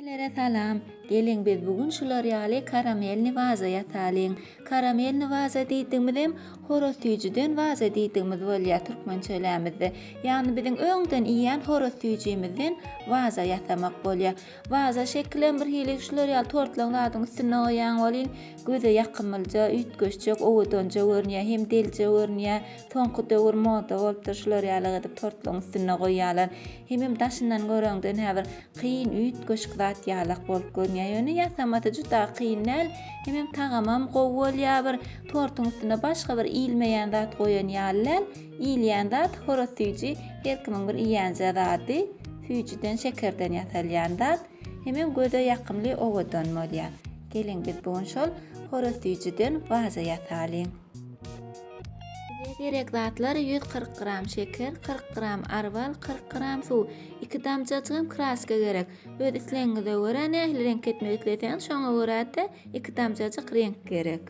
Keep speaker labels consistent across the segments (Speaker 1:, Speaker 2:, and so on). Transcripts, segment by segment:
Speaker 1: Hemmelere salam! Geliň biz bu gün şular ýaly karamelni waza ýasalyň. Karamelni waza diýdigimizem horaz süýjüden waza diýdigimiz bolýar türkmençelämizde. Ýagny biziň öňden iýýän horaz süýjimizden waza ýasamak bolýar. Waza şekilem bir hili şular ýaly tortlaň zadyň üstünde goýýaň welin göze ýakymlyja, üýtgeşjek, owadanja görünýär, hem delije görünýär. Soňky döwür moda bolupdyr şular ýaly gyzyp tortlaň üstünde goýýarlar. Hemem daşyndan göreňden häbir kyn üýtgeşik zat ýalak bolup görünýär. Ýöne ýasamasy juda kyn däl, hemem tagamam gowy bolýar bir tortuň üstüne başga bir iýilmeýän zat goýan ýaly däl. Iýilýän zat horat süýji her kimiň bir iýenje zady. Süýjüden şekerden ýasalýan zat. Hemem göze ýakymly owadan bolýar. Geliň biz bu gün şol horat süýjüden waza ýasalyň. Bize gerek zatlar 140 gram şeker, 40 gram arwal, 40 gram suw, 2 damjajygam kraska gerek. Öz islegiňize görä nähili reňk etmek isleseňiz şoňa görä-de 2 damjajyk reňk gerek.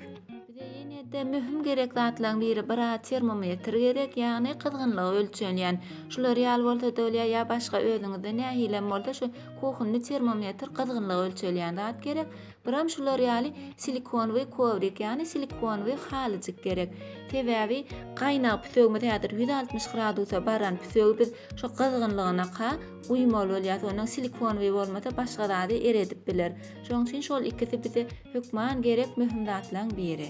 Speaker 1: Bize ýene-de möhüm gerek zatlaryň biri bir a termometr gerek, ýagny gyzgynlygy ölçenýän. Şular ýaly bolsa-da bolýar ýa başga özüňizde nähilem bolsa şu kuhunny termometr gyzgynlygy ölçelýän zat gerek. Buram şular ýaly silikonwyý kowrik ýagny silikonwyý halyjyk gerek. Sebäbi gaýnag pütegimiz häzir ýüz altmyş gradusa baran pütegi biz şo gyzgynlygynaka guýmaly bolýas ondan silikonwyý bolmasa başga zady eredip biler. Şoň üçin şol ikisi bize hökman gerek möhüm zatlaň biri.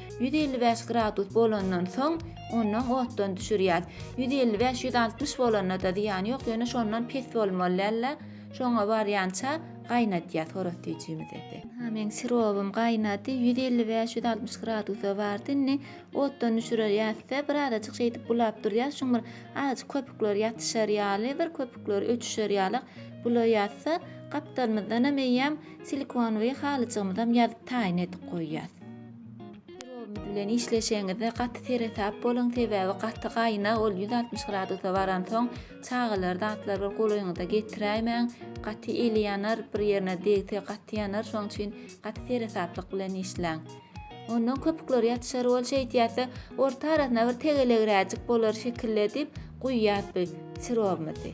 Speaker 1: 155 gradus bolandan soň ondan otdan düşürýär. 155-160 bolanda-da zyýany ýok, ýöne şondan pes bolmaly däl-de, şoňa barýança gaýnadýar soros süýjimizi. Aha, meň sirowym gaýnady, 155-160 gradusa bardy. Indi otdan düşürerýäs-de, birazajyk şeýdip bulap durýas. Şuň bir azajyk köpükler ýatyşar ýaly, bir köpükler öçüşer ýaly bulaýas-da, gapdalymyzdanam eýýäm silikonowy halyjygymyzam ýazyp taýyn edip goýýas. Pirogumyz bilen işleşeňizde gaty seresap boluň, sebäbi gaty gaýnag, ol ýüz altmyş gradusa baransoň, çagalar, zatlar bir golaýyňyza getiräýmäň, gaty eli ýanar, bir ýerine degse gaty ýanar, şonuň üçin gaty seresaplyk bilen işläň. Ondan köpükler ýatyşar, ol şeýt ýatsa, orta arasyna bir tegelegräjik bolar şekilli edip guýýas biz sirogumyzy.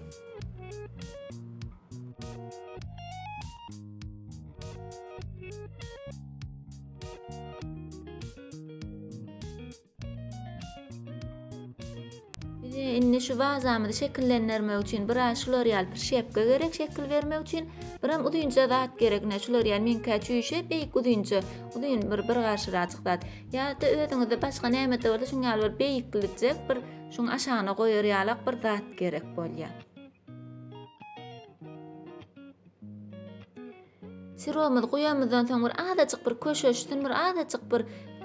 Speaker 1: indi şu wazamyzy şekillendirmek üçin bir aý şular ýaly prişepka gerek şekil bermek üçin bir hem uzynja zat gerek ne şular ýaly meňkä çüýşe beýik uzynja uzyn bir bir garşyraçyk zat ýa-da özüňizde başga näme-de bolsa şuň ýaly bir beýiklijek bir şuň aşagyna goýar ýalak bir zat gerek bolýar. Sirogymyzy guýamyzdan soň bir azajyk bir köşeşsin, bir azajyk bir,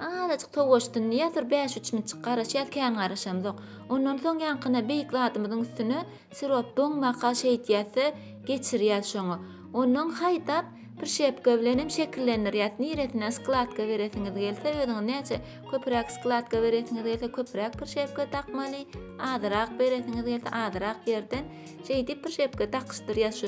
Speaker 1: azajyk towaşsyn diýýäs, bir bäş-üç minitjik garaşýas, kän garaşamzok. Ondan soň ýaňkyna beýik zadymyzyň üstüne sirop doňmaka şeýtýäs-de, geçirýäs şoňa. Ondan haýdap prişepka bilen hem şekillendirýäs. Niresine skladka beresiňiz gelse, özüňiz näçe köpräk skladka beresiňiz gelse, köpräk prişepka dakmaly, azyrak beresiňiz gelse, azyrak ýerden şeýdip prişepka dakyşdyrýas şu.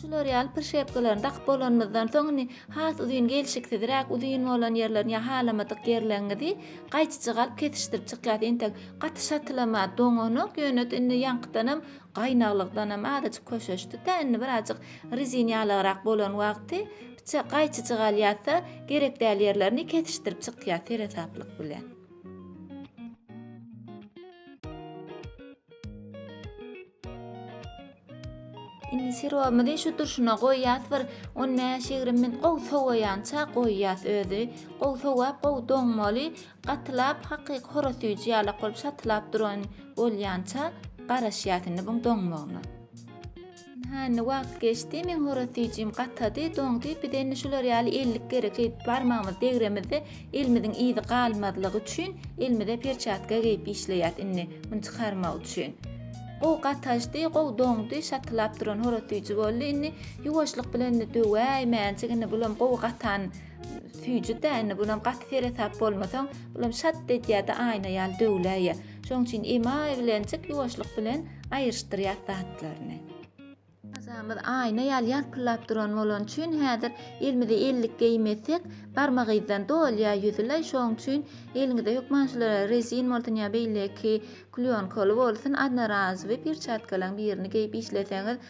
Speaker 1: Şular ýaly prişepkalaryny dakyp bolanymyzdan soň indi has uzyn gelşiksizräk uzyn bolan ýerlerini ýa halamadyk ýerleriňizi gaýçyjyk alyp kesişdirip çykýas. Entek gaty şatylama doňanok, ýöne indi ýaňkydanam Gaýnaglykdanam azajyk köşeşdi-de, indi birazjyk rezin ýalagrak bolan wagty biçak gaýçyjyk alýarsa, gerek däl ýerlerini kesişdirip çykýar seresaplyk bilen. Indi sirogymyzy şu durşuna goýýas bir on bäş-ýigrimi minut gowy sowaýança goýýas özi gowy sowap gowy doňmaly Gatylap hakyky horaz süýji ýalak bolup şatylap duran bolýança garaşýas indi buň doňmagyna. Hä indi wagt geçdi meň horaz süýjim gatady, doňdy, bize indi şular ýaly ellik gerek şeýdip barmagymyzy degremizde elimiziň yzy galmazlygy üçin elimize perçatka geýip işleýäs indi muny çykarmak üçin. Gowy gataşdy, gowy doňdy, şatylap duran horaz süýji boldy, indi ýuwaşlyk bilen indi döwäýmäjik indi bulam gowy gatan süýjüdä indi bulam gaty seresap bolmasaň bulam şat edýärdi aýna ýaly döwläýýä şoň üçin emaý bilenjik ýuwaşlyk bilen aýryşdyrýas zatlaryny Mazamyz aýna ýaly ýalpyllap duran bolan üçin häzir elimize ellik geýmesek barmak yzdan dolýa ýüzüläý şoň üçin eliňizde hökman şular rezin bolsun ýa beýleki klýonkaly bolsun adnorazowy perçatkalaň birini geýip işleseňiz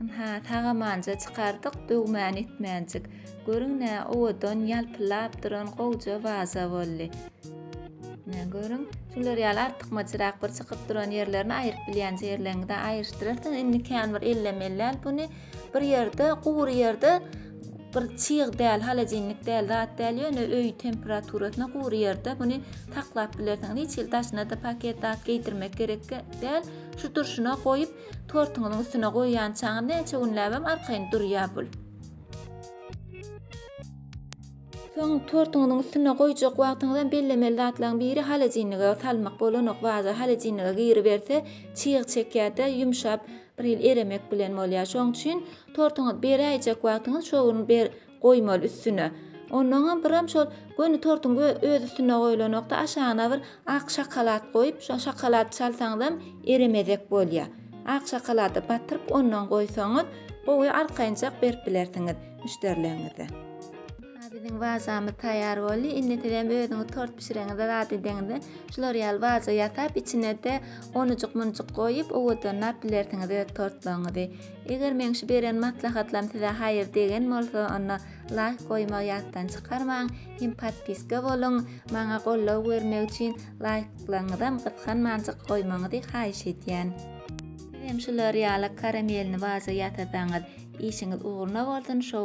Speaker 1: Ynha, sagamanja çykardyk, döwmän etmänjik. Görüň-ä, owadan, ýalpyllap duran gowja waza boldy. Ine, görüň, şular ýaly artykmaçrak bir çykyp duran ýerlerini aýyryp bilýänçä ýerleriňizi aýyryşdyrarsyňyz. Indi kän bir ellemelläl buny. Bir ýerde, gury ýerde bir çyg däl, holodilnik däl zat däl, ýöne öý temperaturasynda gury ýerde muny saklap bilersiňiz. Hiç hili daşyna-da paket zat geýdirmek gerek däl. Şu durşuna goýup, tortuňyzyň üstüne goýýançaňy näçe günläbem arkaýyn durýar bul. Soň tortuňyzyň üstüne goýjak wagtyňyzam bellemeli zatlaryň biri holodilnige salmak bolanok, waza holodilnige giriberse çyg çekýär-de, ýumşap, bir hili eremek bilen bolýar. Şoň üçin tortuňyzy beräýjek wagtyňyz şo gün goýmaly üstüne. Onnoňam biram şol göni tortuň özi üstüne goýlanokda aşagyna bir ak şokolad goýup şo şokolady çalsaňyzam eremezek bolýa. Ak şokolady batyryp onnoň goýsaňyz gowy arkaýynjak berip bilersiňiz müşderileňize. Aha biziň wazamyz taýýar boldy. Indi sizem özüňiz tort bişireňizde zat edeňizde şular ýaly waza ýasap içinede onujyk munujyk goýup owadanlap bilersiňiz öz tortlaryňyzy. Eger meň şu beren maslahatlarym size haýyr degen bolsa onda laýk goýmagy ýatdan çykarmaň hem podpiska boluň maňa goldaw bermek üçin laýklaryňyzam gysganmanjyk goýmaňyzy haýyş edýän. Sizem şular ýaly karamelni waza ýasasaňyz işiňiz ugruna bolsun show.